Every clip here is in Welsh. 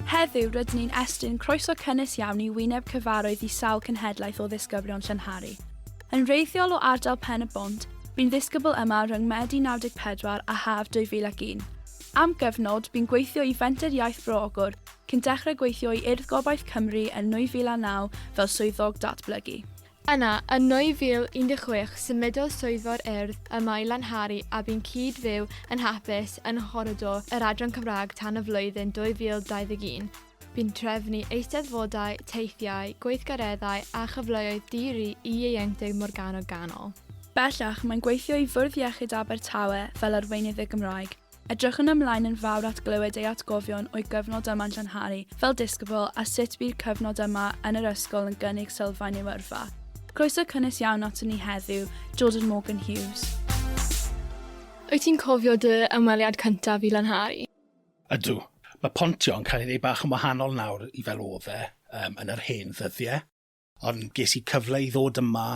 Heddiw rydyn ni'n estyn croeso cynnes iawn i wyneb cyfarwydd i sawl cenhedlaeth o ddisgyblion Llynhari. Yn wreiddiol o ardal Pen y Bont, bu'n ddisgybl yma rhwng Medi 94 a Haf 2001. Am gyfnod, bu'n gweithio i Fenter Iaith Bro Ogwr, cyn dechrau gweithio i Urdd Gobaith Cymru yn 2009 fel swyddog datblygu. Yna, yn 2016 symudodd swyddfa'r Urdd yma i Lanhari a bu'n cyd-fyw yn hapus yn nghoridor yr Adran Cymraeg tan y flwyddyn 2021. Bu'n trefnu eisteddfodau, teithiau, gweithgareddau a chyfleoedd di-ri i ieuenctid Morgannwg Ganol. Bellach, mae'n gweithio i Fwrdd Iechyd Abertawe fel arweinydd y Gymraeg. Edrychwn ymlaen yn fawr at glywed ei atgofion o'i gyfnod yma'n Llanhari fel disgybl a sut bu'r cyfnod yma yn yr ysgol yn gynnig sylfaen i'w yrfa. Croeso cynnes iawn aton ni heddiw, Jordan Morgan Hughes. Wyt ti'n cofio dy ymweliad cyntaf i Lanhari? Ydw. Mae pontio yn cael ei wneud bach yn wahanol nawr i fel oedd e yn yr hen ddyddiau. Ond ges i cyfle i ddod yma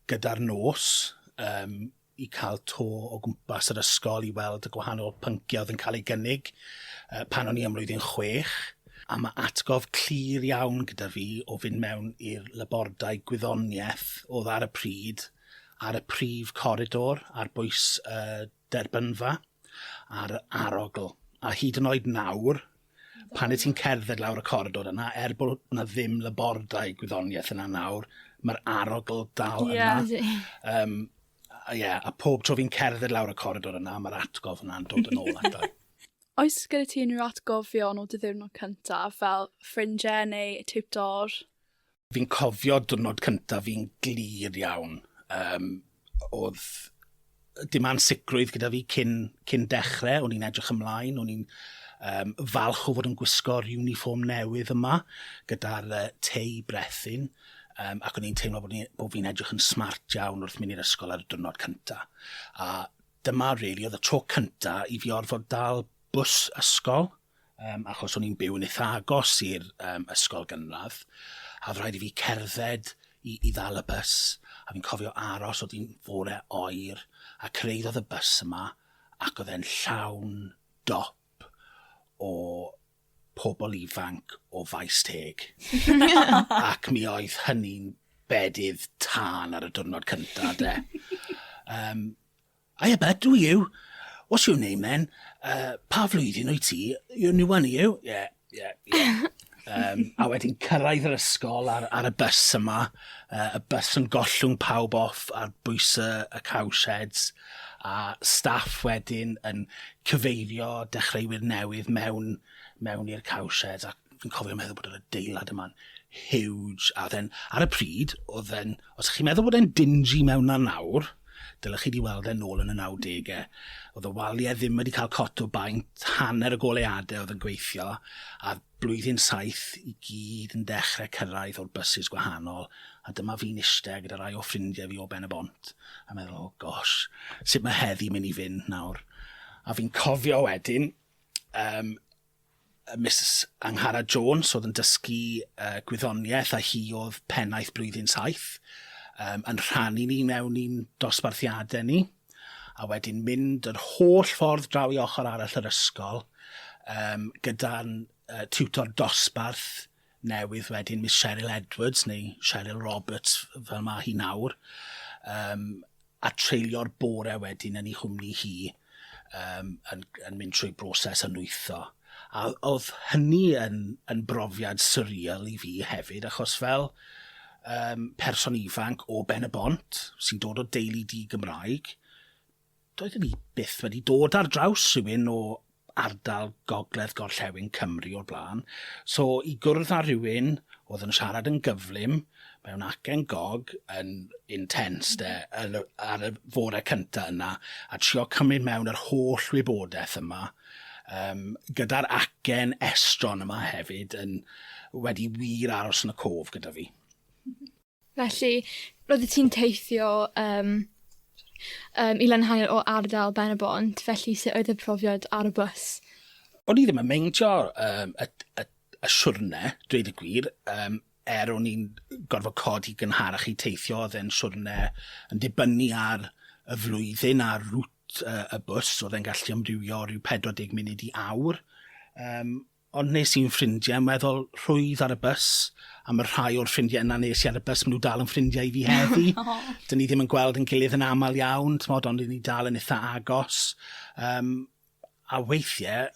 gyda'r nos, um, i cael to o gwmpas yr ysgol i weld y gwahanol pynciau oedd yn cael ei gynnig uh, pan o'n i ymlwyddyn chwech a mae atgof clir iawn gyda fi o fynd mewn i'r labordai gwyddoniaeth oedd ar y pryd ar y prif coridor ar bwys y derbynfa. ar yr arogl, a hyd yn oed nawr, pan wyt ti'n cerdded lawr y coridor yna, er bod 'na ddim labordai gwyddoniaeth yna nawr, mae'r arogl dal yna. Ie, ydi. Yym, a ie, a pob tro fi'n cerdded lawr y coridor yna, mae'r atgof yna'n dod yn ôl ata Oes gyda ti unrhyw atgofion o dy ddiwrnod cyntaf, fel ffrindiau neu tiwtor? Fi'n cofio diwrnod cyntaf fi'n glir iawn. Um, oedd dim ansicrwydd gyda fi cyn, cyn dechrau, o'n i'n edrych ymlaen, o'n i'n um, falch o fod yn gwisgo'r uniform newydd yma, gyda'r uh, tei brethyn, um, ac o'n i'n teimlo bod, bod fi'n edrych yn smart iawn wrth mynd i'r ysgol ar y diwrnod cyntaf. A dyma, really, oedd y tro cyntaf i fi orfod dal bws ysgol, Yym, achos o'n i'n byw yn eitha agos i'r um, ysgol gynradd, a oedd rhaid i fi cerdded i, i ddal y bus, a fi'n cofio aros oedd hi'n fore oer, a cyrraeddodd y bus yma, ac oedd e'n llawn dop o pobl ifanc o faes teg. ac mi oedd hynny'n bedydd tân ar y diwrnod cyntaf, de. Um, I a bet do you? What's your name then? Uh, pa flwyddyn wyt ti? You're new one, are you? Yeah, yeah, yeah. Um, a wedyn cyrraedd yr ysgol ar, ar y bus yma, uh, y bus yn gollwng pawb off ar bwys y, y cowsheds, a staff wedyn yn cyfeirio dechreuwyr newydd mewn, mewn i'r cowsheds, a fi'n cofio meddwl bod yr adeilad yma'n huge, a then, ar y pryd, oedd e'n, os chi'n meddwl bod e'n dingy mewn na nawr, dylech chi wedi weld e'n ôl yn y 90au. Oedd y waliau ddim wedi cael cot o baint, hanner y goleadau oedd yn gweithio, a blwyddyn saith i gyd yn dechrau cyrraedd o'r bysus gwahanol, a dyma fi'n eistedd gyda rai o ffrindiau fi o Ben y Bont, a meddwl, oh gosh, sut mae heddi mynd i fynd nawr? A fi'n cofio wedyn, um, Misus Angharad Jones oedd yn dysgu uh, gwyddoniaeth a hi oedd pennaeth blwyddyn saith, um, yn rhannu ni mewn i'n dosbarthiadau ni, a wedyn mynd yr holl ffordd draw i ochr arall yr ysgol um, gyda'n uh, tiwtor dosbarth newydd wedyn Miss Cheryl Edwards neu Cheryl Roberts fel mae hi nawr um, a treulio'r bore wedyn yn ei chwmni hi um, yn, yn mynd trwy broses yn wytho. A oedd hynny yn, yn brofiad surreal i fi hefyd achos fel um, person ifanc o Ben y Bont sy'n dod o deulu di Gymraeg doeddwn i byth wedi dod ar draws rhywun o ardal gogledd gorllewin Cymru o'r blaen, so i gwrdd â rhywun oedd yn siarad yn gyflym, mewn acen gog, yn intense 'de, yn y, ar y fore cynta yna, a trio cymryd mewn yr holl wybodaeth yma, um, gyda'r acen estron yma hefyd, yn wedi wir aros yn y cof gyda fi. Felly, roeddet ti'n teithio yym yym i Lanhau o ardal Ben-y-bont, felly sut oedd y profiad ar y bws? O'n i ddim yn meindio um, y, y, y siwrne, dweud y gwir, um, er o'n i'n gorfod codi gynharach i teithio, oedd e'n siwrne yn dibynnu ar y flwyddyn a'r rŵt uh, y bws, oedd e'n gallu amrywio rhyw 40 munud i awr. Um, Ond wnes i'n ffrindiau weddol rhwydd ar y bws, a mae rhai o'r ffrindiau yna nes i ar y bws, maen nhw dal yn ffrindiau i fi heddi. Dyn ni ddim yn gweld yn gilydd yn aml iawn, tmod, ond ni dal yn eitha agos. Um, a weithiau,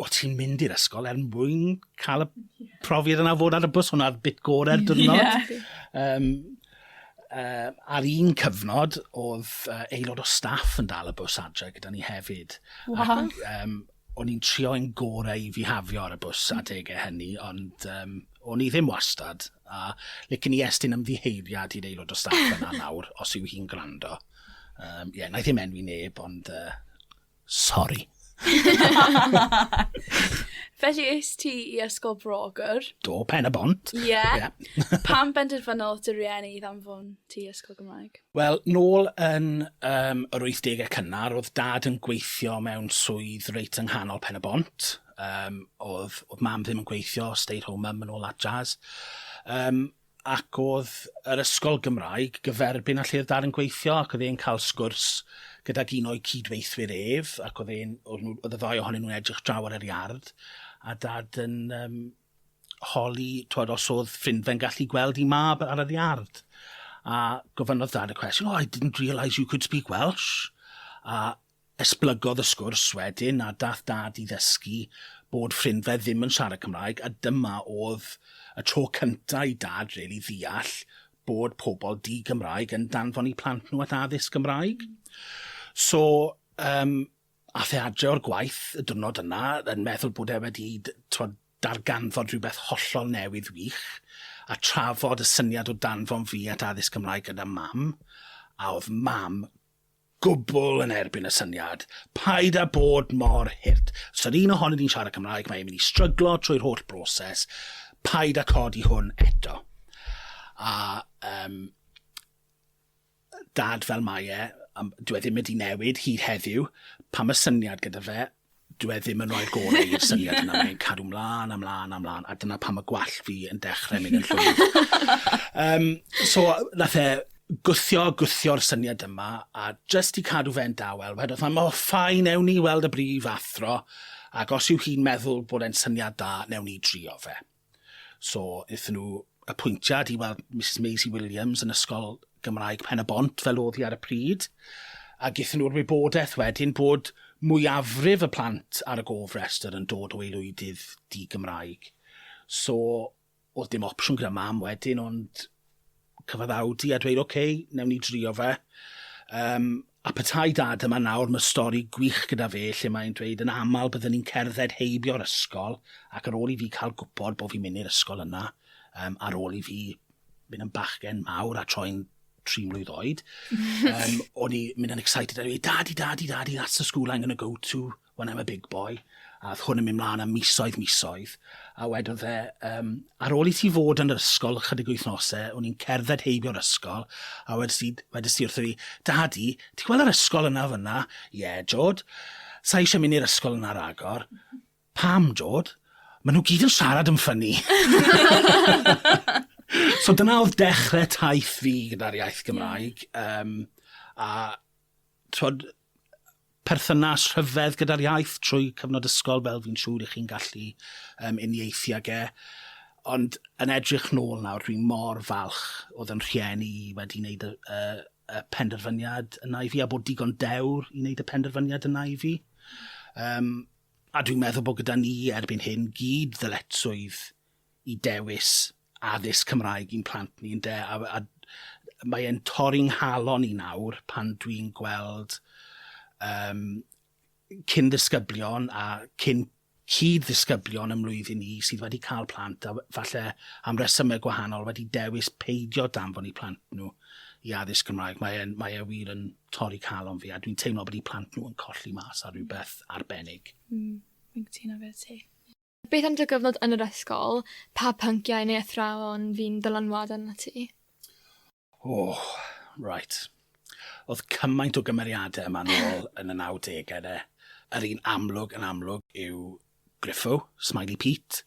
o ti'n mynd i'r ysgol er mwyn cael y profiad yna fod ar y bws, hwnna'r bit gorau'r dyrnod. yeah. um, uh, ar un cyfnod, oedd uh, aelod o staff yn dal y bws adre gyda ni hefyd. Wow. Ac, um, O'n i'n trio yn gore i fihafio ar y bws adege hynny, ond um, o'n i ddim wastad, a licen i estyn ymddiheuriad i'r aelod o staff yna nawr, os yw hi'n gwrando. Um, yeah, na i ddim enwi neb, ond uh, sorry. Felly eist ti i ysgol Brogwr? Do, pen y bont. Ie. Yeah. yeah. Pam benderfynodd dy rieni i ddanfon ti ysgol Gymraeg? Wel, nôl yn um, yr 80au cynnar, oedd dad yn gweithio mewn swydd reit yng nghanol Pen y Bont. Um, oedd, oedd mam ddim yn gweithio, stay at home mum and all that jazz. Um, ac oedd yr ysgol Gymraeg gyferbyn â lle oedd dad yn gweithio ac oedd e'n cael sgwrs gydag un o'i cydweithwyr ef ac oedd e'n oedd y ddau ohonyn nhw'n edrych draw ar yr iard a dad yn um, holi, twod, os oedd ffrindfe'n gallu gweld i mab ar yr iard. A gofynnodd dad y cwestiwn, oh, I didn't realise you could speak Welsh. A esblygodd y sgwrs wedyn, a dath dad i ddysgu bod ffrindfe ddim yn siarad Cymraeg, a dyma oedd y tro cyntaf i dad really ddeall bod pobl di-Gymraeg yn danfon i plant nhw at addysg Gymraeg. So, um, Aeth e adre o'r gwaith y diwrnod yna yn meddwl bod e wedi t'mod darganfod rhywbeth hollol newydd wych, a trafod y syniad o danfon fi at addysg Cymraeg gyda Mam, a o'dd Mam gwbwl yn erbyn y syniad, paid â bod mor hurt, os yr un ohonyn ni'n siarad Cymraeg mae e'n mynd i stryglo trwy'r holl broses, paid â codi hwn eto. A yym Dad fel mae e, dyw e ddim wedi newid hyd heddiw, pan mae syniad gyda fe, dyw e ddim yn rhoi'r gorau i'r syniad yna, mae'n cadw mlaen a mlaen a mlaen, a dyna pan mae gwallt fi yn dechrau mynd yn llwyr. um, so, nath e gwthio, gwthio'r syniad yma, a jyst i cadw fe'n dawel, wedodd, mae mor ffain, ewn ni weld y brif athro, ac os yw hi'n meddwl bod e'n syniad da, newn ni drio fe. So wnaethon nhw apwyntiad i weld Misus Maisie Williams yn Ysgol Gymraeg Pen-y-bont fel oedd hi ar y pryd a gethon nhw'r wybodaeth wedyn bod mwyafrif y plant ar y gofrestr yn dod o aelwydydd di-Gymraeg. So oedd dim opsiwn gyda Mam wedyn ond cyfaddawd i a dweud, OK, newn ni drio fe. Um, a petai dad yma nawr, mae stori gwych gyda fe lle mae'n dweud yn aml byddwn ni'n cerdded heibio'r ysgol ac ar ôl i fi cael gwybod bod fi'n mynd i'r ysgol yna, um, ar ôl i fi mynd yn bachgen mawr a troi'n tri mlynedd oed, um, o'n i mynd yn excited a dweud, dadi, dadi, dadi, that's the school I'm going to go to. when I'm a big boy, a oedd hwn yn mynd mlaen am misoedd, misoedd, a wedodd e, um, ar ôl i ti fod yn yr ysgol chydig wythnosau, o'n i'n cerdded heibio'r ysgol, a wedys i, wedys i wrtho fi, Dadi, ti gweld yr ysgol yna fyna? Ie, yeah, Jod. Sa eisiau mynd i'r ysgol yna ragor. Pam, Jod? Mae nhw gyd yn siarad yn ffynnu. so dyna oedd dechrau taith fi gyda'r iaith Gymraeg. Um, a twod, perthynas rhyfedd gyda'r iaith trwy cyfnod ysgol fel fi'n siŵr i chi'n gallu um, uniaethu ag e. Ond yn edrych nôl nawr, dwi mor falch oedd yn rhieni i wedi wneud y, y, y penderfyniad yna i fi, a bod digon dewr i wneud y penderfyniad yna i fi. Um, a dwi'n meddwl bod gyda ni erbyn hyn gyd ddyletswydd i dewis addysg Cymraeg i'n plant ni ynde a a mae e'n torri 'nghalon i nawr pan dwi'n gweld yym cyn ddisgyblion a cyn cyd ddisgyblion ym mlwyddyn i sydd wedi cael plant a falle am resymau gwahanol wedi dewis peidio danfon i plant nhw i addysg Cymraeg. Mae e'n mae e wir yn torri calon fi a dwi'n teimlo bod i plant nhw yn colli mas ar rhywbeth arbennig. Mm, fi'n cytuno fe ti. Beth am dy gyfnod yn yr ysgol? Pa pynciau neu athrawon fu'n ddylanwad arnat ti? O, reit. Oedd cymaint o gymeriadau yma nôl yn y 90au de. Yr un amlwg yn amlwg yw Griffo, Smiley Pete,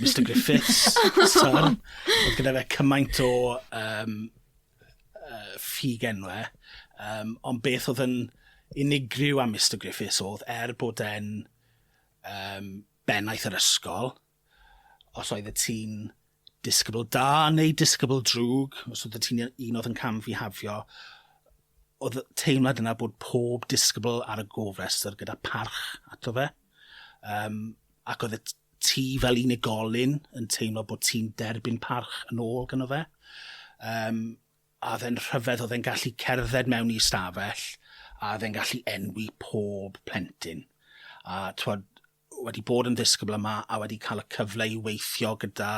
Mister Griffiths, Sir. Oedd gyda fe cymaint o um, uh, ffug enwe. Um, ond beth oedd yn unigryw am Mister Griffiths oedd, er bod e'n um, bennaeth yr ysgol, os oedd y ti'n disgybl da neu disgybl drwg, os oedd y ti'n un oedd yn cam fi hafio, oedd teimlad yna bod pob disgybl ar y gofrestr gyda parch ato fe. Um, ac oedd y ti fel unigolyn yn teimlo bod ti'n derbyn parch yn ôl gyno fe. Um, a oedd e'n rhyfedd, oedd e'n gallu cerdded mewn i stafell, a oedd e'n gallu enwi pob plentyn. A twod, wedi bod yn ddisgybl yma a wedi cael y cyfle i weithio gyda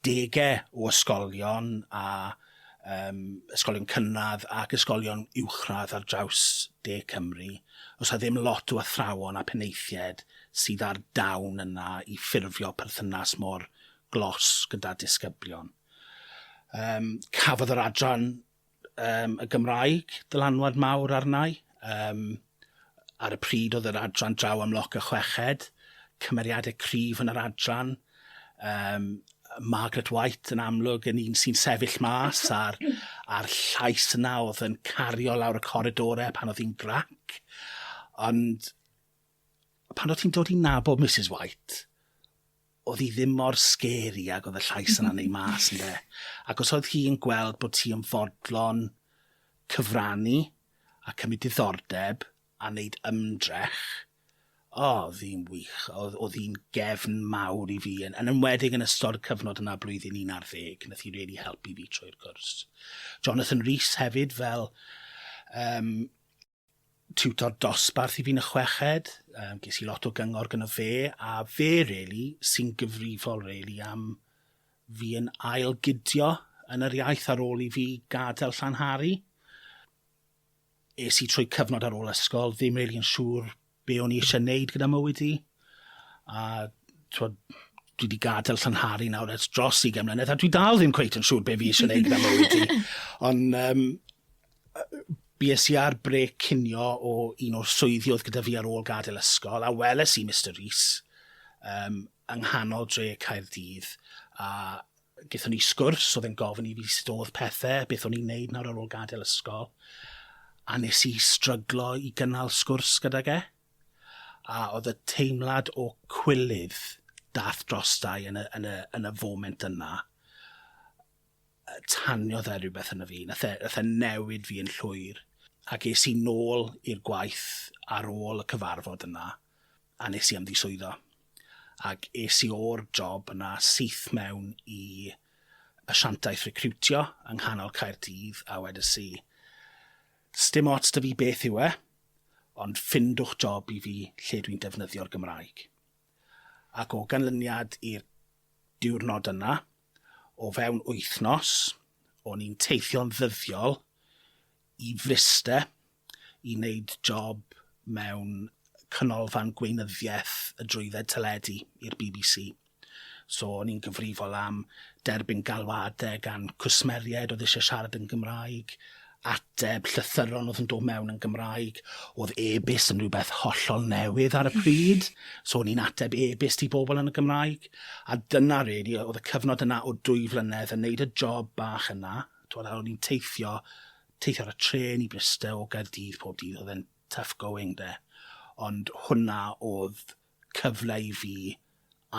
degau o ysgolion a um, ysgolion cynradd ac ysgolion uwchradd ar draws de Cymru, os a ddim lot o athrawon a penaethiaid sydd ar dawn yna i ffurfio perthynas mor glos gyda disgyblion. Yym cafodd yr adran yym y Gymraeg dylanwad mawr arna i. Yym ar y pryd oedd yr adran draw am loc y chweched. Cymeriadau cryf yn yr adran. Yym Margaret White yn amlwg yn un sy'n sefyll mas a'r a'r llais yna oedd yn cario lawr y coridore pan oedd hi'n grac ond pan o' ti'n dod i nabod Misus White, o'dd 'i ddim mor scary ag o'dd y llais yna'n neu' mas ynde? Ac os oedd hi'n gweld bod ti yn fodlon cyfrannu a cymryd diddordeb a neud ymdrech, o, o'dd hi'n wych, o'dd o'dd hi'n gefn mawr i fi yn yn enwedig yn ystod y cyfnod yna blwyddyn un ar ddeg, nath hi rili helpu fi trwy'r cwrs. Jonathan Rees hefyd fel yym tiwtor dosbarth i fi yn y chweched, um, ges i lot o gyngor gyda fe, a fe really, sy'n gyfrifol really am fi yn ail gydio yn yr iaith ar ôl i fi gadael Llanhari. Es i trwy cyfnod ar ôl ysgol, ddim really yn siŵr be o'n i eisiau wneud gyda mywyd i. A twod, dwi wedi gadael llanhari nawr ers dros i mlynedd a dwi dal ddim cweit yn siŵr be fi eisiau wneud gyda mywyd i. Ond um, bues i ar brec cinio o un o'r swyddi oedd gyda fi ar ôl gadael ysgol, a weles i Mr Rees um, yng nghanol dre Caerdydd, a Gaethon ni sgwrs, oedd e'n gofyn i fi sut oedd pethe, beth o'n i'n neud nawr ar ôl gadael ysgol, a nes i stryglo i gynnal sgwrs gydag e. A oedd y teimlad o cwilydd dath drosta i yn y yn y yn y foment yna, yy taniodd e rywbeth yno fi, nath e nath e newid fi yn llwyr, ac es i nôl i'r gwaith ar ôl y cyfarfod yna, a nes i ymddiswyddo. Ac es i o'r job yna syth mewn i asiantaeth recriwtio yng nghanol Caerdydd a wedys i, sdim ots da fi beth yw e, ond ffindwch job i fi lle dwi'n defnyddio'r Gymraeg. Ac o ganlyniad i'r diwrnod yna, o fewn wythnos, o'n i'n teithio'n ddyddiol i Fryste i wneud job mewn canolfan gweinyddiaeth y drwydded teledu i'r bbc. So o'n i'n gyfrifol am derbyn galwadau gan cwsmeriaid oedd eisiau siarad yn Gymraeg, ateb llythyron oedd yn dod mewn yn Gymraeg, oedd e-byst yn rhywbeth hollol newydd ar y pryd, so o'n i'n ateb e-byst i bobl yn y Gymraeg, a dyna really, oedd y cyfnod yna o dwy flynedd yn wneud y job bach yna, twod, a o'n i'n teithio teithio ar y trên i Bryste o Gaerdydd pob dydd, oedd e'n tough going 'de. Ond hwnna oedd cyfle i fi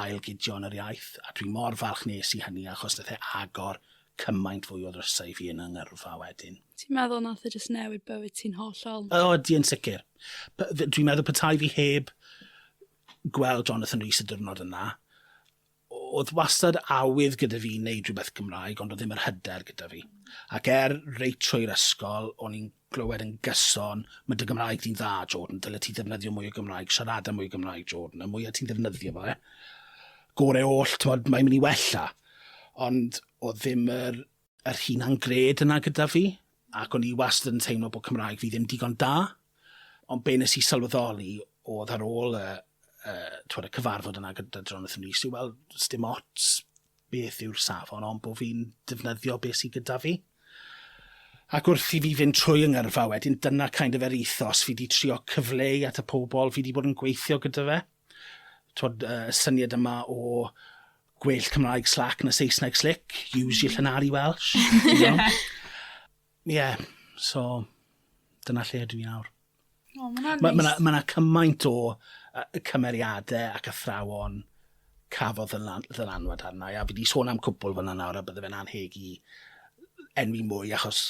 ail gydio yn yr iaith, a dwi mor falch nes i hynny achos nath e agor cymaint fwy o ddrysau i fi yn 'y ngyrfa wedyn. Ti'n meddwl nath e jyst newid bywyd ti'n hollol? O, ydi yn sicr. Dwi'n meddwl petai fi heb gweld Jonathan Rees y diwrnod yna, O'dd wastad awydd gyda fi neud rhywbeth Gymraeg ond o'dd ddim yr hyder gyda fi. Ac er reit trwy'r ysgol o'n i'n glywed yn gyson 'ma dy Gymraeg di'n dda Jordan, dyle ti ddefnyddio mwy o Gymraeg, siarada mwy o Gymraeg Jordan, y mwya ti'n ddefnyddio fo, gore oll t'mod mae'n mynd i wella. Ond o'dd ddim yr yr hunan gred yna gyda fi, ac o'n i wastad yn teimlo bod Cymraeg fi ddim digon da, ond be nes i sylweddoli oedd ar ôl y, y, twed, y cyfarfod yna gyda Jonathan Rees yw wel, dim ots beth yw'r safon, ond bod fi'n defnyddio beth sydd gyda fi. Ac wrth i fi fynd trwy yng ngyrfa wedyn, dyna kind of yr ethos fi wedi trio cyfleu at y pobl fi wedi bod yn gweithio gyda fe. Twod, y syniad yma o gwell Cymraeg slac na Saesneg slick, use your Llanari Welsh, you know? Ie, so, dyna lle ydw i nawr. O, ma' wnna'n neis. Ma' ma' 'na ma' 'na cymaint o yy cymeriade ac athrawon cafodd ddylan- ddylanwad arna i, a fi 'di sôn am cwpwl fan 'na nawr a bydde fe'n annheg i enwi mwy achos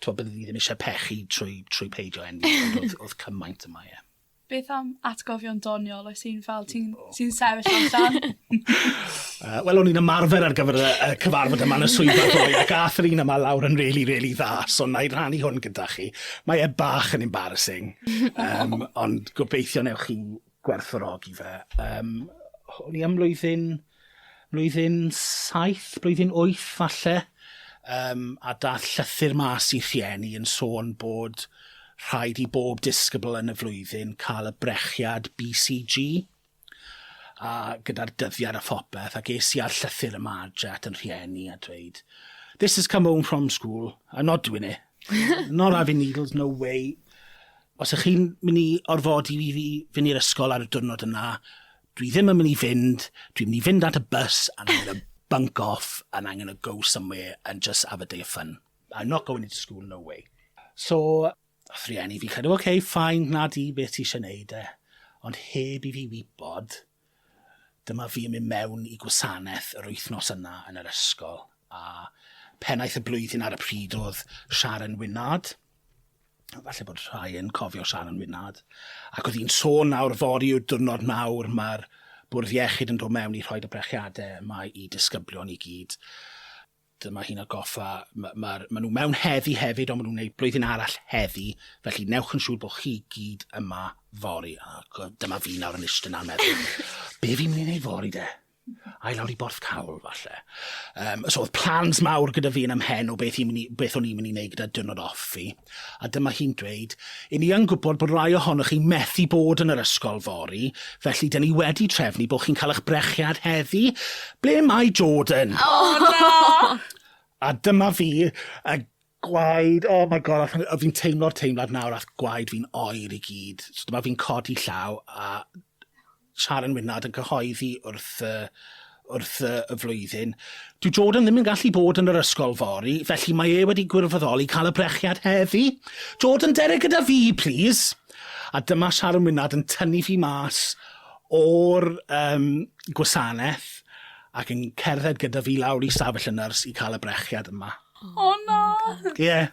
t'wo' bydde fi ddim isie pechu trwy trwy peidio enwi ond o'dd o'dd cymaint yma, ie. Beth am atgofion doniol oes un fel ti'n sy'n sefyll allan? uh, Wel, o'n i'n ymarfer ar gyfer y, y cyfarfod yma yn y swyddfa ddoe, ac ath yr un yma lawr yn really, really dda, so na i rannu hwn gyda chi. Mae e bach yn embarrassing, um, ond gobeithio newch chi gwerthfawrogi fe. Um, o'n i am mlwyddyn blwyddyn saith, blwyddyn wyth falle, yym, a dath llythyr mas i rhieni yn sôn bod rhaid i bob disgybl yn y flwyddyn cael y brechiad BCG, a gyda'r dyddiad a phopeth, ac es i â'r llythyr yma adre at yn rhieni a dweud, this has come home from school, I'm not doing it, not having needles, no way, os ych chi'n mynd i orfodi fi fi fynd i'r ysgol ar y diwrnod yna, Dwi ddim yn mynd i fynd, dwi'n mynd i fynd at y bus and I'm going to bunk off and I'm going to go somewhere and just have a day of fun. I'm not going into school, no way. So, wrth rieni fi cadw, ok, fine, na di, beth ti eisiau neud e? Ond heb i fi wybod, dyma fi yn mynd mewn i gwasanaeth yr wythnos yna yn yr ysgol, a pennaeth y blwyddyn ar y pryd oedd Sharon Wynnard. falle bod rhai yn cofio Sharon Wynad, ac oedd hi'n sôn nawr fori yw diwrnod mawr, mae'r bwrdd iechyd yn dod mewn i rhoi y brechiadau yma i disgyblion i gyd. Dyma hi'n agoffa, mae, ma, ma nhw mewn heddi hefyd, ond maen nhw'n gwneud blwyddyn arall heddi, felly newch yn siŵr bod chi gyd yma fori. Ac dyma fi nawr yn eistedd na'n meddwl, be fi'n mynd i wneud fori de? Ai lawr i Borthcawl falle. Um, so oedd plans mawr gyda fi yn ymhen o beth, i, beth o'n i'n mynd i wneud gyda dynod off fi. A dyma hi'n dweud, i ni yn gwybod bod rhai ohonoch chi methu bod yn yr ysgol fori, felly dyn ni wedi trefnu bod chi'n cael eich brechiad heddi. Ble mae Jordan? Oh, no! a dyma fi a gwaed, oh my god, a fi'n teimlo'r teimlad nawr, a gwaed fi'n oer i gyd. So dyma fi'n codi llaw a Sharon Wynard yn cyhoeddi wrth y wrth y y flwyddyn. Dyw Jordan ddim yn gallu bod yn yr ysgol fory, felly mae e wedi gwirfoddoli cael y brechiad heddi. Jordan, dere gyda fi, plîs! A dyma Sharon Wynard yn tynnu fi mas o'r um, gwasanaeth ac yn cerdded gyda fi lawr i stafell y nyrs i cael y brechiad yma. O oh, na! Ie, yeah,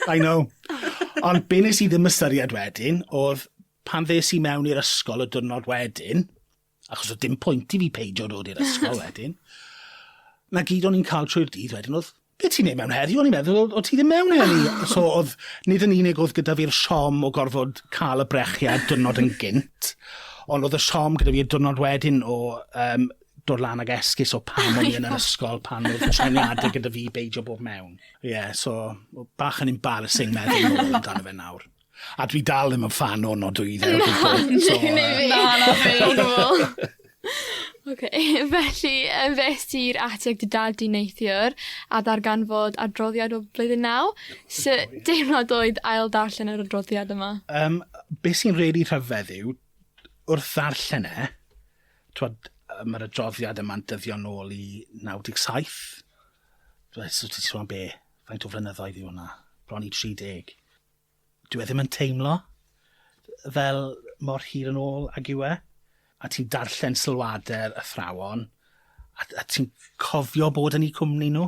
I know. Ond be nes i ddim ystyried wedyn oedd Pan ddes i mewn i'r ysgol y diwrnod wedyn, achos oedd dim pwynt i fi peidio dod i'r ysgol wedyn, na gyd o'n i'n cael trwy'r dydd wedyn oedd, be ti'n neud mewn heddiw? O'n i'n meddwl, o, o ti ddim mewn heddi. so oedd, nid yn unig oedd gyda fi'r siom o gorfod cael y brechiad dwrnod yn gynt, ond oedd y siom gyda fi'r dwrnod wedyn o um, dod lan ag esgus o pam o'n i yn yr ysgol pan oedd treniadau gyda fi beidio bob mewn. Ie, yeah, so bach yn embarrassing meddwl yn ôl amdano fe nawr. A dwi dal ddim yn ffan o nodwydde o gwbl. Na, ni ni fi. Na, na fi. O gwbl. Oce, felly yy fes ti'r ati ag dy dad di neithiwr a ddarganfod adroddiad o blwyddyn naw. So, deimlad oedd ail darllen yr adroddiad yma? Um, be sy'n rili really rhyfedd yw, wrth ddarllen e, twod, mae'r adroddiad yma'n dyddion ôl i 97. Dwi'n so ti'n sôn be? Faint o flynyddoedd yw hwnna? Bron i 30. Dyw e ddim yn teimlo fel mor hir yn ôl ag yw e. A ti'n darllen sylwade'r athrawon a a ti'n cofio bod yn 'u cwmni nhw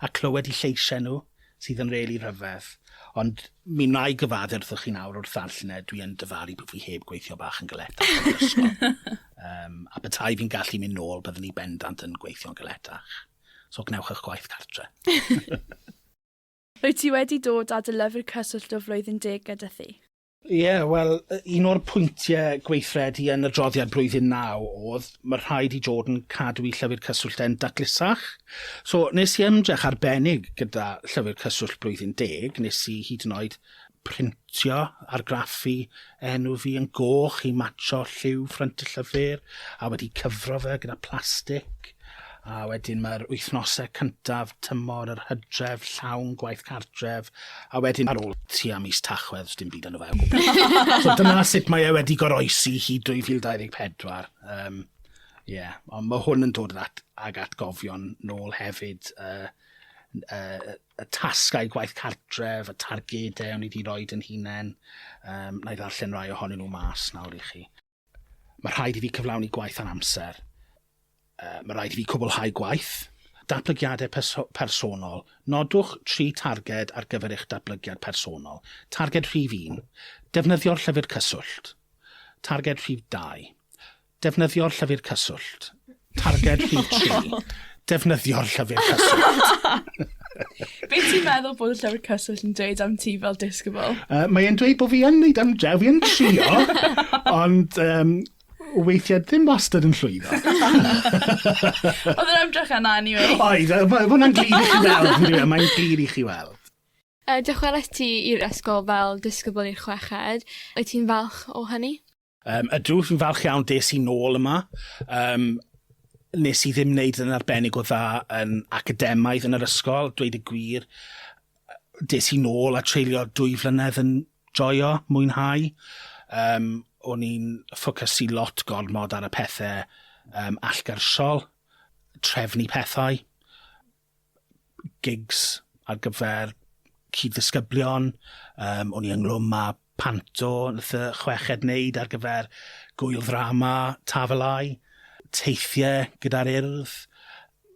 a clywed 'u lleisiau nhw sydd yn rili rhyfedd. Ond mi wna i gyfaddef wrthoch chi nawr wrth ddarllen e, dwi yn dyfalu bod fi heb gweithio bach yn galetach yn yr ysgol. Yym, a petai fi'n gallu mynd nôl, byddwn i bendant yn gweithio'n galetach. So gwnewch 'ych gwaith cartre. Wyt ti wedi dod â dy lyfr cyswllt o Flwyddyn Deg gyda thi? Ie, wel, un o'r pwyntiau gweithredu yn adroddiad Blwyddyn Naw oedd, mae rhaid i Jordan cadw i Llyfr Cyswllt e'n datlusach. So, nes i ymdrech arbennig gyda Llyfr Cyswllt Blwyddyn Deg, nes i hyd yn oed printio, argraffu enw fi yn goch i matcho lliw ffrynt y llyfr, a wedi cyfro fe gyda plastig, a wedyn mae'r wythnosau cyntaf tymor yr hydref, llawn gwaith cartref, a wedyn ar ôl tua mis Tachwedd, dim byd yn y fe o gwbl. so dyna sut mae e wedi goroesi hi 2024. Um, yeah. ond mae hwn yn dod at, ag atgofion nôl hefyd, uh, uh, y tasgau gwaith cartref, y targedau o'n i wedi rhoi yn hunain. Um, na i ddarllen rai ohonyn nhw mas nawr i chi. Mae rhaid i fi cyflawni gwaith ar amser. Uh, mae rhaid i fi cwblhau gwaith. Datblygiadau perso personol. Nodwch tri targed ar gyfer eich datblygiad personol. Targed rhif 1. Defnyddio'r llyfr cyswllt. Targed rhif 2. Defnyddio'r llyfr cyswllt. Targed rhif tri. Defnyddio'r llyfr cyswllt. Be ti'n meddwl bod y llyfr cyswllt yn dweud am ti fel disgybl? Uh, mae e'n dweud bod fi yn neud am dre, fi yn trio, ond um, weithiau ddim wastad yn llwyddo. Oedd yn ymdrech yna, anyway. Oedd, mae hwnna'n glir i chi weld, yn dweud, mae'n glir i chi weld. Uh, dychweles ti i'r ysgol fel disgybl i'r chweched. Wyt ti'n falch o hynny? Yym, ydw, fi'n falch iawn des i nôl yma. Yym, nes i ddim wneud yn arbennig o dda yn academaidd yn yr ysgol, dweud y gwir. Des i nôl a treulio dwy flynedd yn joio, mwynhau. Yym, o'n i'n ffocysu lot gormod ar y pethe um, allgarsiol, trefnu pethau, gigs ar gyfer cyd-ddisgyblion, um, o'n i ynglwm â panto nath y chweched wneud ar gyfer gwyl ddrama Tafelau, teithiau gyda'r urdd,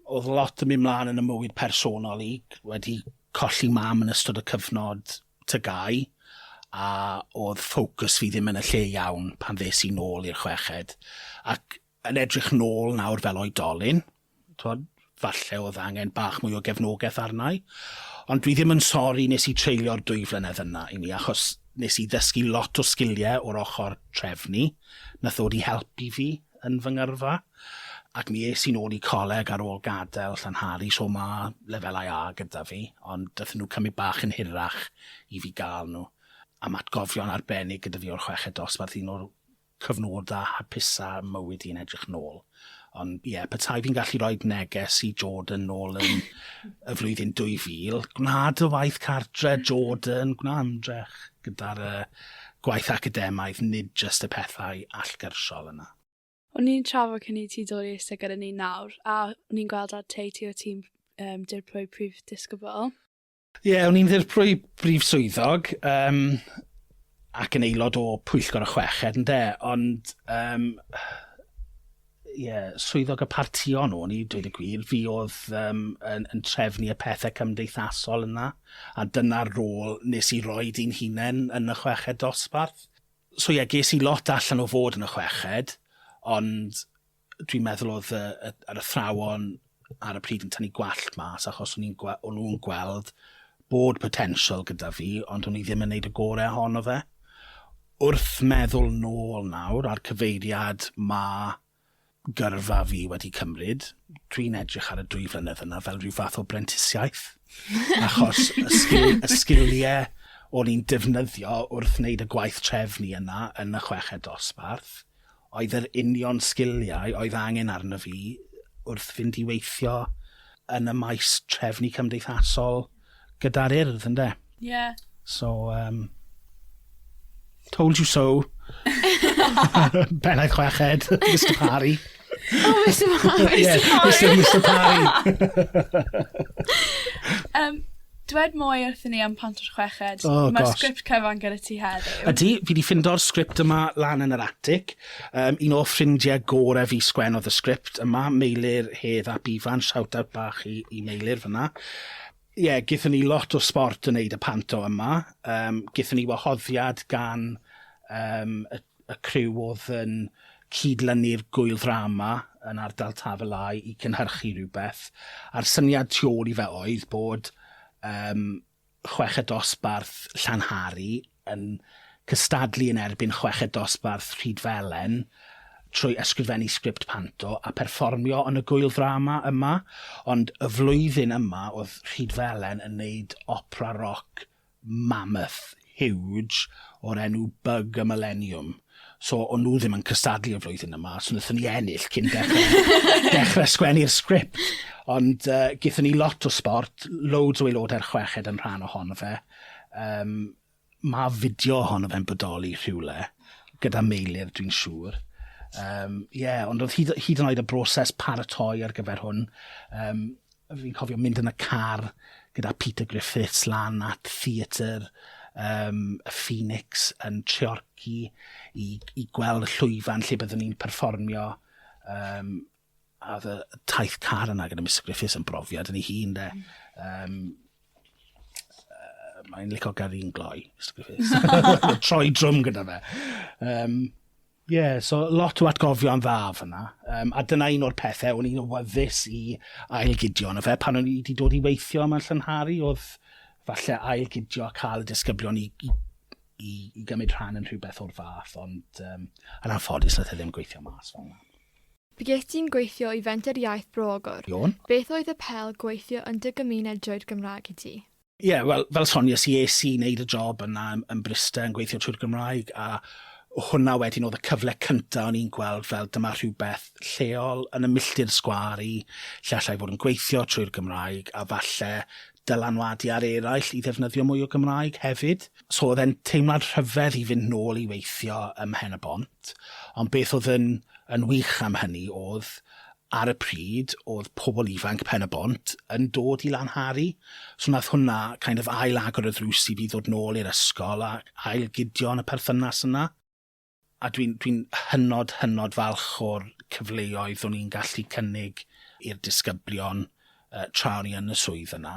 oedd lot yn mynd mlaen yn y mywyd personol i, wedi colli mam yn ystod y cyfnod tygau, a oedd ffocws fi ddim yn y lle iawn pan ddes i nôl i'r chweched, ac yn edrych nôl nawr fel oedolyn, twod, falle oedd angen bach mwy o gefnogaeth arna i, ond dwi ddim yn sori nes i treulio'r dwy flynedd yna i mi, achos nes i ddysgu lot o sgiliau o'r ochr trefnu, nath ddod i helpu fi yn fy ngyrfa, ac mi es i'n ôl i coleg ar ôl gadael Llanhari, so ma' lefelau A gyda fi, ond dathon nhw cymryd bach yn hirach i fi gael nhw, a ma' atgofion arbennig gyda fi o'r chweched dosbarth, un o'r cyfnodau hapusa mywyd i'n edrych nôl. Ond ie, yeah, petai fi'n gallu rhoi neges i Jordan nôl yn y flwyddyn 2000, gwna dy waith cartre, Jordan, gwna ymdrech gyda'r uh, gwaith academaidd, nid just y pethau allgyrsiol yna. O'n i'n trafod cyn i ti dod i eistedd gyda ni nawr, a o'n i'n gweld ar te ti o tîm um, dirprwy prif disgybl. Ie, o'n i'n ddirprwy brif swyddog, um, ac yn aelod o pwyllgor y chweched, ynde, ond, um, ie, swyddog y partïon o'n i, dweud y gwir, fi oedd um, yn, yn trefnu y pethau cymdeithasol yna, a dyna'r rôl nes i roi di'n hunain yn y chweched dosbarth. So ie, ges i lot allan o fod yn y chweched, ond dwi'n meddwl oedd y, y, yr athrawon ar y pryd yn tynnu gwallt mas achos o'n nhw'n gweld bod potensial gyda fi, ond o'n i ddim yn neud y gorau ohono fe. Wrth meddwl nôl nawr a'r cyfeiriad ma gyrfa fi wedi cymryd, dwi'n edrych ar y dwy flynedd yna fel rhyw fath o brentisiaeth. Achos y, sgil, y sgiliau o'n i'n defnyddio wrth wneud y gwaith trefnu yna yn y chweched dosbarth, oedd yr union sgiliau oedd angen arno fi wrth fynd i weithio yn y maes trefnu cymdeithasol gyda'r Urdd, ynde? Ie. So, um, told you so. Pennaeth chweched, Mr Parry. Oh, Mr Parry! Mr Parry! um, Dwed mwy wrthyn ni am Pant o'r Chweched. Oh gosh. Mae'r sgript cyfan gyda ti heddiw. Ydy, fi 'di ffindo'r sgript yma lan yn yr atic. Um, un o ffrindiau gore fi sgwennodd y sgript yma, Meilir Hedd ap Ifan, shout-out bach i, i Meilir fyna. Ie, yeah, gythyn ni lot o sport yn neud y panto yma. Um, gythyn ni wahoddiad gan um, y y criw oedd yn cyd-lynu'r gŵyl ddrama yn ardal Taf y Lai i cynhyrchu rhywbeth, a'r syniad tu ôl i fe oedd bod um, chweched dosbarth Llanhari yn cystadlu yn erbyn chweched dosbarth Rhydfelen trwy ysgrifennu sgript panto a perfformio yn y gŵyl ddrama yma, ond y flwyddyn yma oedd Rhydfelen yn neud opera roc mammoth huge o'r enw Bug a Millennium. So, o'n nhw ddim yn cystadlu y flwyddyn yma, so wnaethon ni ennill cyn dechrau, dechrau sgwennu'r sgript. Ond uh, gyda ni lot o sport, loads o aelodau'r chweched yn rhan ohono fe. Um, mae fideo ohono fe'n bodoli rhywle, gyda meilir dwi'n siŵr. Um, yeah, ond oedd hyd, hyd yn oed y broses paratoi ar gyfer hwn, um, Fi'n cofio mynd yn y car gyda Peter Griffiths lan at theatr um, y Phoenix yn Treorci i, i gweld y llwyfan lle byddwn ni'n perfformio um, a oedd y taith car yna gyda Mr Griffiths yn brofiad yn ei hun de. Um, uh, Mae'n licio gael un gloi, Mr Griffiths. Troi drwm gyda fe. Um, Ie, yeah, so lot o atgofion dda fyna. Um, a dyna un o'r pethau o'n i'n wyddus i ailgidio yn y fe. Pan o'n i wedi dod i weithio yma'n llynharu, oedd falle ailgidio a cael y disgyblion i, i, i, i gymryd rhan yn rhywbeth o'r fath, ond um, yn anffodus nath e ddim gweithio mas fel yna. Bygest ti'n gweithio i Fenter Iaith Bro Ogwr? Iawn. Beth oedd y pel gweithio yn dy gymuned droed Gymraeg i ti? Ie, yeah, wel, fel sonies i, es i wneud y job yna yn Bryste yn gweithio trwy'r Gymraeg, a hwnna wedyn oedd y cyfle cyntaf o'n i'n gweld fel dyma rhywbeth lleol yn y milltir sgwar i, lle allai fod yn gweithio trwy'r Gymraeg, a falle dylanwadu ar eraill i ddefnyddio mwy o Gymraeg hefyd. So oedd e'n teimlad rhyfedd i fynd nôl i weithio ym Mhen-y-bont, ond beth oedd yn, yn wych am hynny oedd ar y pryd o'dd pobl ifanc Pen-y-bont yn dod i Lanhari, so nath hwnna kind of ail-agor y ddrws i fi ddod nôl i'r ysgol a ail-gydio yn y perthynas yna. A dwi'n dwi'n hynod hynod falch o'r cyfleoedd o'n i'n gallu cynnig i'r disgyblion yy tra o'n i yn y swydd yna.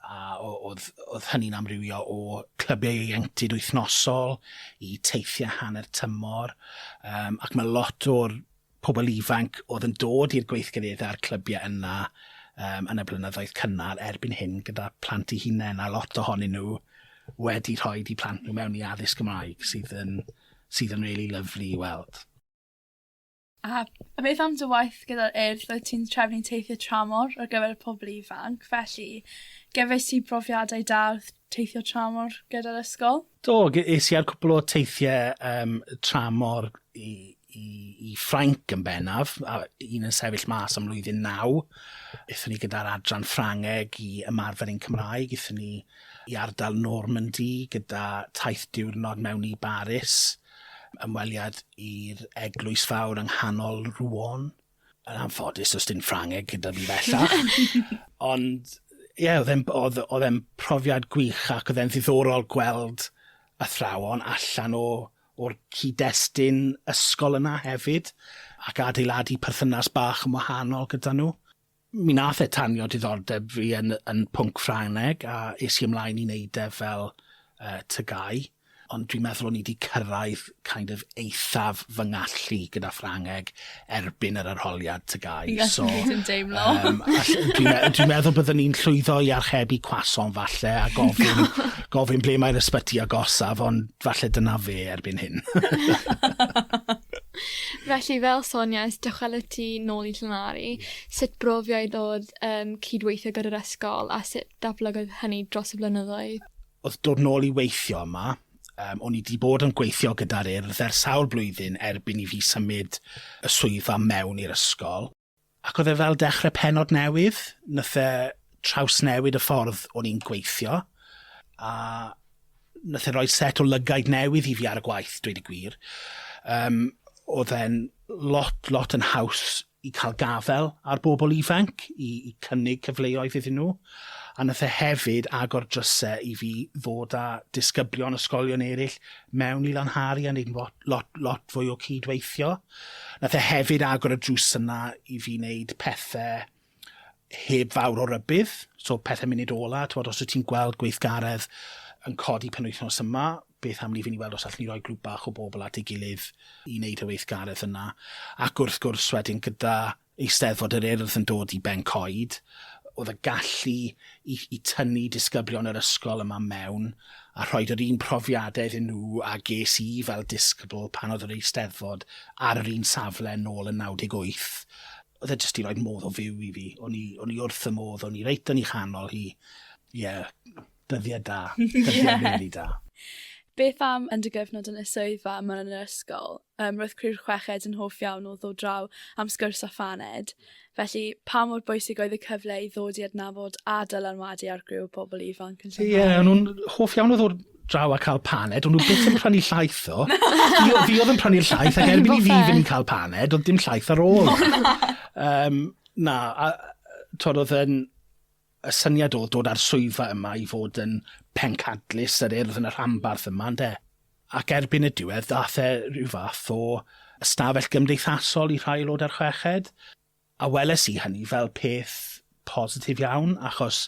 a oedd, oedd hynny'n amrywio o clybiau ieuenctid wythnosol i teithiau hanner tymor, um, ac mae lot o'r pobl ifanc oedd yn dod i'r gweithgareddau a'r clybiau yna um, yn y blynyddoedd cynnar erbyn hyn gyda plant i hunain, a lot ohonyn nhw wedi rhoi i plant nhw mewn i addysg Gymraeg, sydd yn, sydd yn really lyflu i weld. A a beth am dy waith gyda'r Urdd rwyt ti'n trefnu teithie tramor ar gyfer y pobol ifanc felly gefais ti brofiadau da wrth teithio tramor gyda'r ysgol? Do ge- es i ar cwpwl o teithie yym tramor i i i Ffrainc yn bennaf a un yn sefyll mas am mlwyddyn naw. Ethon ni gyda'r adran Ffrangeg i ymarfer ein Cymraeg ethon ni i ardal Normandy gyda taith diwrnod mewn i Baris. Ymweliad i'r eglwys fawr yng nghanol Rouen. Yn anffodus, does dim Ffrangeg gyda fi bellach. Ond, ie, yeah, oedd e'n oedd, oedd e'n profiad gwych ac oedd e'n ddiddorol gweld athrawon allan o, o'r cyd-destun ysgol yna hefyd, ac adeiladu perthynas bach yn wahanol gyda nhw. Mi nath e tanio diddordeb fi yn yn pwnc Ffrangeg a es i ymlaen i neud e fel yy tygau, ond dwi'n meddwl o'n i 'di cyrraedd kind of eithaf fy ngallu gyda Ffrangeg erbyn yr arholiad tygau so... Ie dwi'n deimlo. ...yym all- dwi'n me- dwi'n meddwl byddwn ni'n llwyddo i archebu cwasom falle a gofyn gofyn ble mae'r ysbyty agosaf ond falle dyna fe erbyn hyn. Felly fel soniais dychweled ti nôl i Llanari. Ie. Sut brofiad odd yym cydweithio gyda'r ysgol a sut datblygodd hynny dros y blynyddoedd? Odd dod nôl i weithio yma yym o'n i 'di bod yn gweithio gyda'r Urdd ers sawl blwyddyn erbyn i fi symud y swyddfa mewn i'r ysgol. Ac oedd e fel dechrau pennod newydd, wnaeth e trawsnewid y ffordd o'n i'n gweithio, a wnaeth e roi set o lygaid newydd i fi ar y gwaith, dweud y gwir. Yym, oedd e'n lot, lot yn haws i cael gafael ar bobl ifanc, i i cynnig cyfleoedd iddyn nhw, a wnaeth e hefyd agor drysau i fi ddod â disgyblion ysgolion eraill mewn i Lanhari a wneud lot, lot, lot fwy o cyd-weithio. Nath e hefyd agor y drws yna i fi neud pethe heb fawr o rybudd, so pethe munud ola, t'mod os wyt ti'n gweld gweithgaredd yn codi penwythnos yma, beth am ni fyn' i weld os allwn ni roi grŵp bach o bobl at ei gilydd i neud y weithgaredd yna. Ac wrth gwrs wedyn gyda Eisteddfod yr Urdd yn dod i ben coed, oedd y gallu i i tynnu disgyblion yr ysgol yma mewn a rhoid yr un profiadau iddyn nhw a ges i fel disgybl pan oedd yr Eisteddfod ar yr un safle nôl yn 98. Oedd e jyst 'di rhoid modd o fyw i fi. O'n i o'n i wrth fy modd, o'n i reit yn ei chanol hi. Ie, dyddiau da. Dyddiau rili da. Beth am yn dy gyfnod yn y swyddfa yma yn yr ysgol? Yym, roedd criw'r chweched yn hoff iawn o ddod draw am sgwrs a phaned, felly pa mor bwysig oedd y cyfle i ddod i adnabod a dylanwadu ar griw o bobl ifanc yn Llanhari? Ie, o'n nhw'n hoff iawn o ddod draw a cael paned, o'n nhw byth yn prynu llaeth ddo. fi, fi oedd yn prynu'r llaeth, ac erbyn i fi fynd i cael paned, oedd dim llaeth ar ôl. um, na, a, twod, oedd yn Y syniad o dod â'r swyddfa yma i fod yn pencadlys yr Urdd yn y rhanbarth yma, ynde? Ac erbyn y diwedd, ddaeth e rhyw fath o ystafell gymdeithasol i rhai aelodau'r chweched, a weles i hynny fel peth positif iawn, achos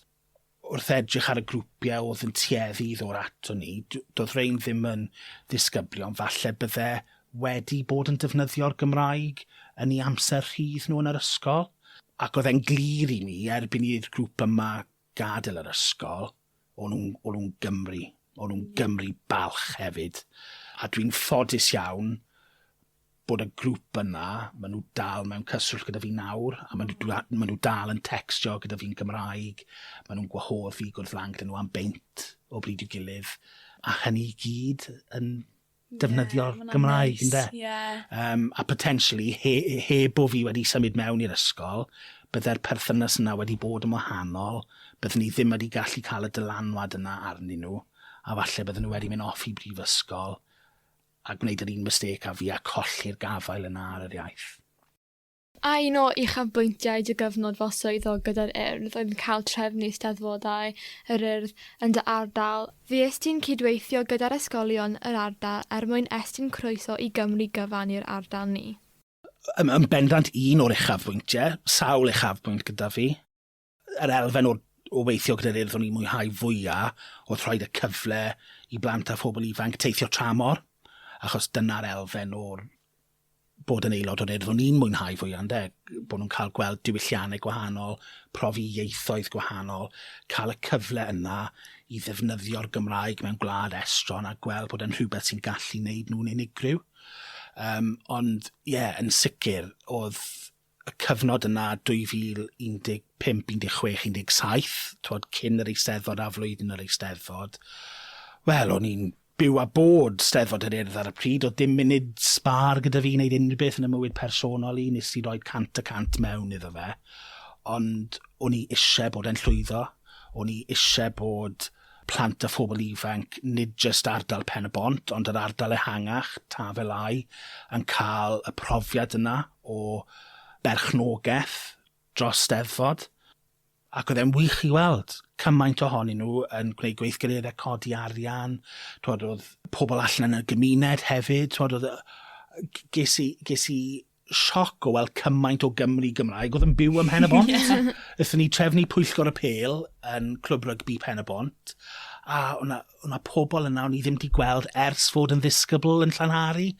wrth edrych ar y grwpiau oedd yn tueddu i ddod ato ni, doedd rhein ddim yn ddisgyblion, falle bydde wedi bod yn defnyddio'r Gymraeg yn eu amser rhydd nhw yn yr ysgol, ac oedd e'n glir i mi erbyn i'r grŵp yma gadael yr ysgol, o'n nhw'n o'n nhw'n Gymry, o'n nhw'n Gymry balch hefyd, a dwi'n ffodus iawn bod y grŵp yna, maen nhw dal mewn cyswllt gyda fi nawr, a maen nhw maen nhw dal yn tecstio gyda fi'n Gymraeg, maen nhw'n gwahodd fi i gwrdd lan gyda nhw am beint o bryd i'w gilydd, a hynny i gyd yn defnyddio'r Gymraeg, ynde? Ie, neis, ie. Yym, a potentially, he- heb bo' fi wedi symud mewn i'r ysgol, bydde'r perthynas yna wedi bod yn wahanol, bydden i ddim wedi gallu cael y dylanwad yna arnyn nhw, a falle bydden nhw wedi mynd off i brifysgol a gwneud yr un mistake â fi a colli'r gafael yna ar yr iaith. A un o uchafbwyntiau dy gyfnod fel swyddog gyda'r Urdd oedd cael trefnu Eisteddfodau yr Urdd yn dy ardal. Fues ti'n cydweithio gyda'r ysgolion yr ardal er mwyn estyn croeso i Gymru gyfan i'r ardal ni. Yn bendant un o'r uchafbwyntiau, sawl uchafbwynt gyda fi. yr elfen o, o weithio gyda'r urdd o'n i'n mwynhau fwyaf oedd rhoi y cyfle i blant a phobl ifanc teithio tramor, achos dyna'r elfen o'r bod yn aelod o'r urdd o'n i'n mwynhau fwyaf, ynde? Bod nhw'n cael gweld diwylliannau gwahanol, profi ieithoedd gwahanol, cael y cyfle yna i ddefnyddio'r Gymraeg mewn gwlad estron a gweld bod e'n rhywbeth sy'n gallu wneud nhw'n unigryw. Um, ond, ie, yeah, yn sicr, oedd y cyfnod yna, 2015, 16, 17, twod, cyn yr Eisteddfod a flwyddyn yr Eisteddfod, wel, o'n i'n byw a bod Steddfod yr Urdd ar y pryd, oedd dim munud sbâr gyda fi i wneud unrhyw beth yn y mywyd personol i, nes i roi cant y cant mewn iddo fe, ond o'n i eisiau bod e'n llwyddo, o'n i eisiau bod plant a phobl ifanc, nid jyst ardal Pen-y-bont, ond yr ardal ehangach, Taf-el-Ai, yn cael y profiad yna o berchnogaeth dros Steddfod. Ac oedd e'n wych i weld cymaint ohonyn nhw yn gwneud gweithgareddau codi arian, twod oedd pobl allan yn y gymuned hefyd, twod oedd yy g- ges i ges i sioc o weld cymaint o Gymry Gymraeg oedd yn byw ym Mhen-y-bont. yeah. Ethon ni trefnu pwyllgor y pel yn Clwb Rygbi Pen-y-bont, a o'na, o'na pobl yna o'n i ddim wedi gweld ers fod yn ddisgybl yn Llanhari,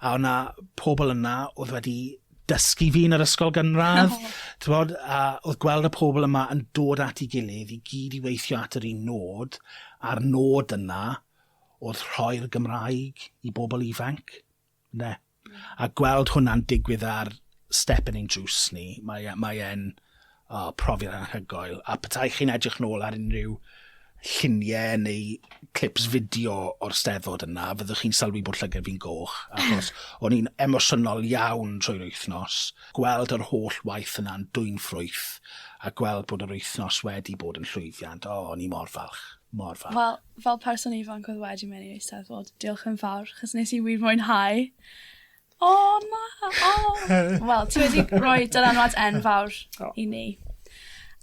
a o'na pobl yna oedd wedi dysgu fi yn yr ysgol gynradd. Oh. Bod, a oedd gweld y pobl yma yn dod at ei gilydd i gyd i weithio at yr un nod, a'r nod yna oedd rhoi'r Gymraeg i bobl ifanc. Ne? A gweld hwnna'n digwydd ar step yn ein drws ni, mae e, mae e'n oh, profiad anhygoel. A petai chi'n edrych nôl ar unrhyw lluniau neu clips fideo o'r steddfod yna, fyddwch chi'n sylwi bod llygau fi'n goch, achos o'n i'n emosiynol iawn trwy'r wythnos. Gweld yr holl waith yna'n dwy'n ffrwyth, a gweld bod yr wythnos wedi bod yn llwyddiant, o, oh, o'n i mor falch, mor falch. Wel, Fel person ifanc oedd wedi mynd i'r Eisteddfod, diolch yn fawr, chos nes i wir mwynhau. O, oh, na! O! Oh. Wel, ti wedi rhoi dylanwad enfawr oh. i ni.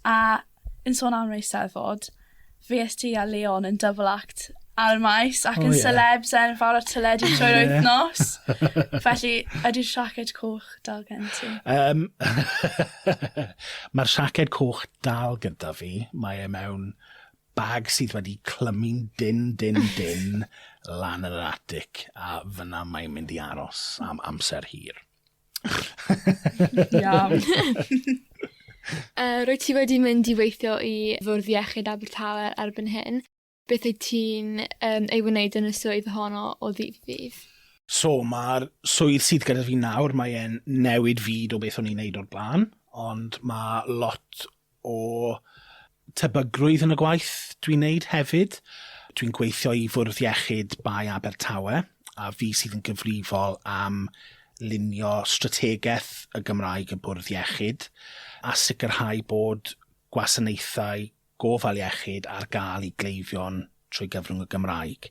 A yn sôn am yr Eisteddfod, fi es ti a Leon yn double act ar y maes ac yn oh, yeah. celebs enfawr a tyledu trwy'r wythnos. Felly, ydy'r siaced coch dal gen ti? Um, Mae'r siaced coch dal gyda fi. Mae e mewn Bag sydd wedi clymu'n dynn, dynn, dynn lan yn yr atic, a fyna mae'n mynd i aros am amser hir. Iawn. uh, rwy ti wedi mynd i weithio i Fwrdd Iechyd Abertawe erbyn hyn. Beth wyt ti'n um, ei wneud yn y swydd honno o ddydd ddydd? So, mae'r swydd sydd gyda fi nawr, mae'n newid fyd o beth o'n i'n neud o'r blaen, ond mae lot o tebygrwydd yn y gwaith dwi'n wneud hefyd. Dwi'n gweithio i Fwrdd Iechyd Bae Abertawe, a fi sydd yn gyfrifol am lunio strategaeth y Gymraeg y Bwrdd Iechyd, a sicrhau bod gwasanaethau gofal iechyd ar gael i gleifion trwy gyfrwng y Gymraeg.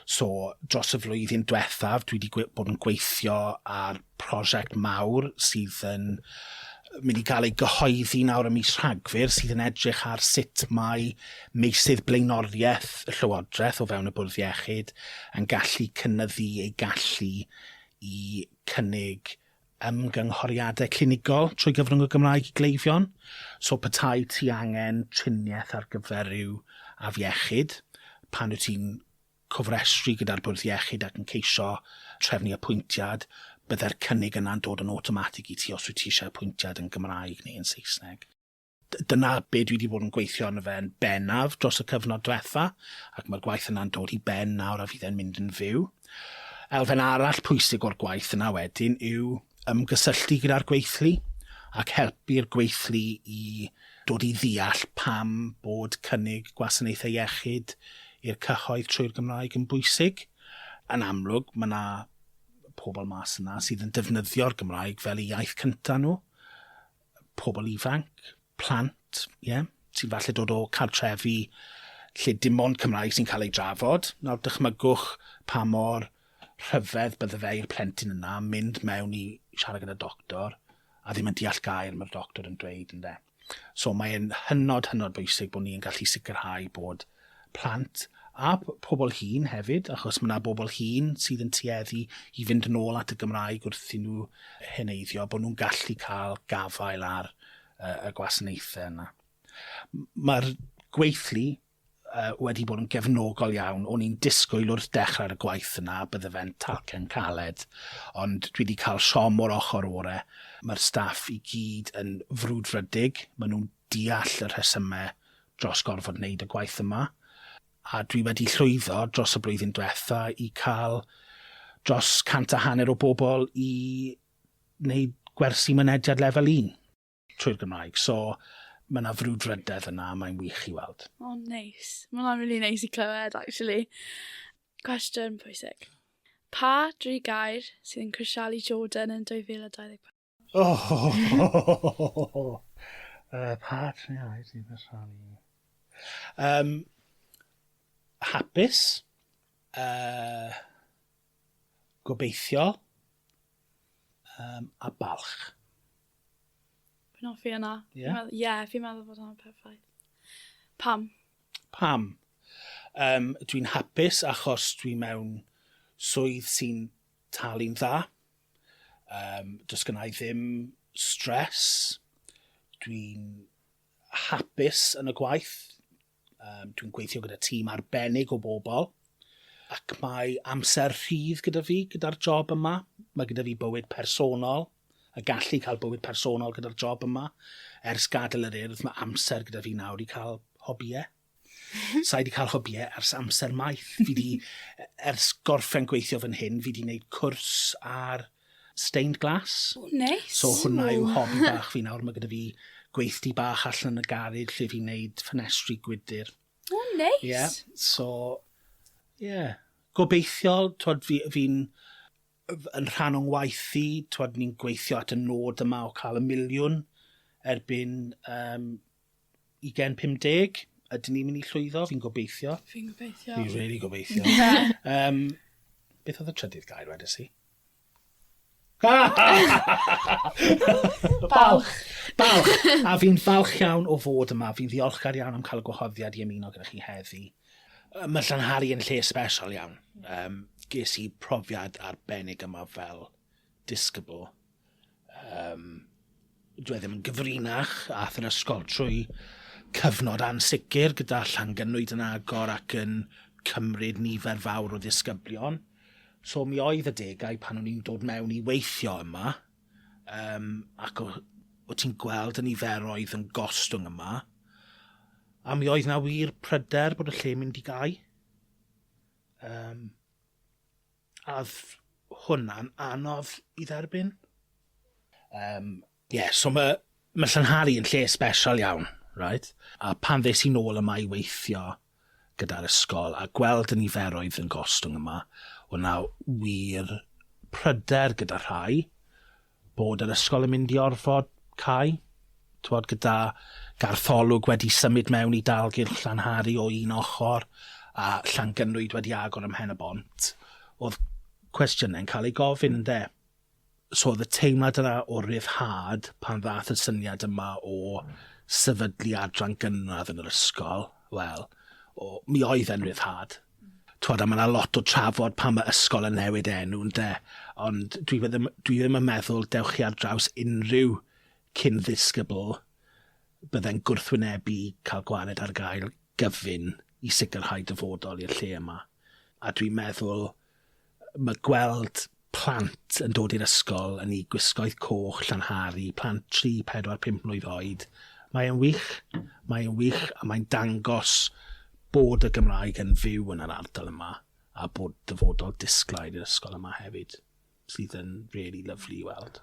So, dros y flwyddyn diwethaf, dwi wedi bod yn gweithio ar prosiect mawr sydd yn mynd i gael ei gyhoeddi nawr ym mis Rhagfyr sydd yn edrych ar sut mae meysydd blaenoriaeth y Llywodraeth o fewn y Bwrdd Iechyd yn gallu cynnyddu ei gallu i cynnig ymgynghoriadau clinigol trwy gyfrwng y Gymraeg i gleifion, so petai ti angen triniaeth ar gyfer rhyw afiechyd, pan wyt ti'n cofrestru gyda'r bwrdd iechyd ac yn ceisio trefnu apwyntiad, byddai'r cynnig yna'n dod yn awtomatig i ti os wyt ti eisiau apwyntiad yn Gymraeg neu yn Saesneg. Dyna be dwi 'di bod yn gweithio arno fe yn bennaf dros y cyfnod dwetha, ac mae'r gwaith yna'n dod i ben nawr a fydd e'n mynd yn fyw. Elfen arall pwysig o'r gwaith yna wedyn yw ymgysylltu gyda'r gweithlu ac helpu'r gweithlu i dod i ddeall pam bod cynnig gwasanaethau iechyd i'r cyhoedd trwy'r Gymraeg yn bwysig. Yn amlwg, mae yna pobl mas yna sydd yn defnyddio'r Gymraeg fel eu iaith cyntaf nhw, pobl ifanc, plant, ie, yeah, sy'n falle dod o cartrefi lle dim ond Cymraeg sy'n cael ei drafod. Nawr, dychmygwch pa mor rhyfedd bydde fe i'r plentyn yna mynd mewn i siarad gyda doctor a ddim yn deall gair mae'r doctor yn dweud, ynde. So mae'n hynod, hynod bwysig bod ni'n gallu sicrhau bod plant a pobl hŷn hefyd, achos mae yna bobl hŷn sydd yn tueddu i fynd yn ôl at y Gymraeg wrth i nhw heneiddio, bod nhw'n gallu cael gafael ar y gwasanaethau yna. Mae'r gweithlu wedi bod yn gefnogol iawn. O'n i'n disgwyl wrth dechrau'r y gwaith yna bydde fe'n talcen caled, ond dwi wedi cael siom o'r ochr orau. Mae'r staff i gyd yn frwdfrydig, maen nhw'n deall y rhesymau dros gorfod wneud y gwaith yma, a dwi wedi llwyddo dros y blwyddyn diwetha' i cael dros cant a hanner o bobl i wneud gwersi mynediad lefel un trwy'r Gymraeg. So, ma' 'na frwdfrydedd yna a mae'n wych i weld. O, neis. Ma' hwnna'n rili neis i clywed actually. Cwestiwn pwysig. Pa dri gair sydd yn crisialu Jordan yn 2024? Oh! uh, pa triniau ti'n rhannu? Um, hapus. Uh, gobeithio. Um, a balch. Fi'n offi yna. Ie? Yeah? Ie, yeah, fi'n meddwl bod hwnna'n perffaith. Pam? Pam? Um, dwi'n hapus achos dwi mewn swydd sy'n talu'n dda. Yym, does gynna i ddim stress, dwi'n hapus yn y gwaith, yym, dwi'n gweithio gyda tîm arbennig o bobl, ac mae amser rhydd gyda fi gyda'r job yma. Mae gyda fi bywyd personol, a gallu cael bywyd personol gyda'r job yma. Ers gadael yr Urdd, mae amser gyda fi nawr i cael hobïau. Sa'i di cael hybiau ers amser maith. Fi di, ers gorffen gweithio fan hyn, fi di wneud cwrs ar stained glass. Oh, nice. So hwnna yw hobi bach fi nawr. Mae gyda fi gweithdi bach allan yn y garid lle fi'n wneud ffenestri gwydr. Oh, nice. Yeah, so, yeah. Gobeithio, twod, fi'n fi yn rhan o'n waith i, twod, ni'n gweithio at y nod yma o cael y miliwn erbyn um, 2050, ydyn ni'n mynd i llwyddo? Fi'n gobeithio. Fi'n gobeithio. Fi'n really gobeithio. um, beth oedd y trydydd gair wedys i? balch! Balch! A fi'n falch iawn o fod yma. Fi'n ddiolchgar iawn am cael y gwahoddiad i ymuno gyda chi heddi. Mae Llanhari yn lle special iawn. Um, ges i profiad arbennig yma fel disgybl. um, dwi e ddim yn gyfrinach ath yr ysgol trwy cyfnod ansicr gyda llangynwyd yn agor ac yn cymryd nifer fawr o ddisgyblion. So mi oedd y degau pan o'n i'n dod mewn i weithio yma, um, ac o, o ti'n gweld y niferoedd yn gostwng yma, a mi oedd na wir pryder bod y lle mynd i gau. Um, Oedd hwnna'n anodd i dderbyn? Um, ie, yeah, so mae ma Llanhari yn lle special iawn, right? A pan ddes i'n ôl yma i weithio gyda'r ysgol a gweld y niferoedd yn gostwng yma, o na wir pryder gyda rhai, Bod yr ysgol yn mynd i orfod cau, t'mod, gyda gartholwg wedi symud mewn i dalgylch Llanhari o un ochr, a Llangynwyd wedi agor ym Mhen-y-bont, o'dd cwestiyne'n cael eu gofyn, ynde? So o'dd y teimlad yna o ryddhad pan ddath y syniad yma o sefydlu adran gynradd yn yr ysgol, wel, o- mi oedd e'n ryddhad. T'wod a ma' 'na lot o trafod pan ma' ysgol yn newid enw ynde? Ond dwi fe- ddim dwi ddim yn meddwl dewch chi ar draws unrhyw cyn ddisgybl bydde'n gwrthwynebu cael gwared ar gael gyfun i sicrhau dyfodol i'r lle yma. A dwi'n meddwl Mae gweld plant yn dod i'r ysgol yn eu gwisgoedd coch llanharu, plant tri, pedwar, pump mlwydd oed, mae e'n wych, mae e'n wych a mae'n dangos bod y Gymraeg yn fyw yn yr ardal yma a bod dyfodol disglair i'r ysgol yma hefyd, sydd yn rili lyfli i weld.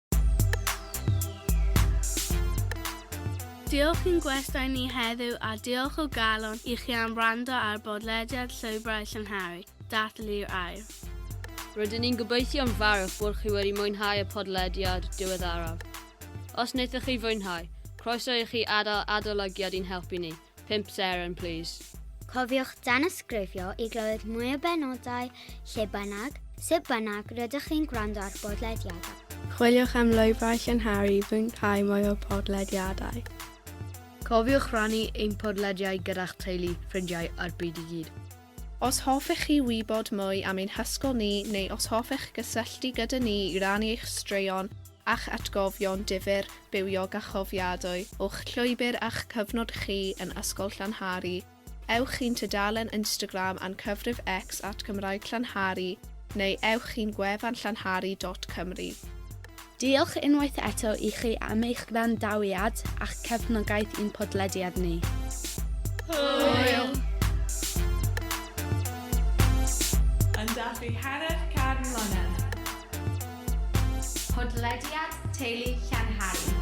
Diolch i'n gwestai ni heddiw a diolch o galon i chi am wrando ar bodlediad Llwybrau Llangharry, Dathlu'r Air. Rydyn ni'n gobeithio'n fawr bod chi wedi mwynhau y podlediad diweddaraf. Os wnaethoch chi fwynhau, croeso i chi adael adolygiad i'n helpu ni. 5 seren, please. Cofiwch danysgrifio i glywed mwy o benodau lle bynnag, sut bynnag rydych chi'n gwrando ar bodlediadau. Chwiliwch am lwybrau llynharu i fwynhau mwy o podlediadau. Cofiwch rannu ein podlediau gyda'ch teulu, ffrindiau a'r byd i gyd. Os hoffech chi wybod mwy am ein hysgol ni neu os hoffech gysylltu gyda ni i rannu eich straeon a'ch atgofion difyr bywiog a chofiadwy o'ch llwybr a'ch cyfnod chi yn Ysgol Llanhari, ewch i'n tudalen Instagram a'n cyfrif X at Gymraeg Llanhari neu ewch i'n gwefan llanhari dot cymru. Diolch unwaith eto i chi am eich gwrandawiad a'ch cefnogaeth i'n podlediad ni. Hwyl! Yn dathlu hanner can mlynedd. Podlediad Teulu Llanhari.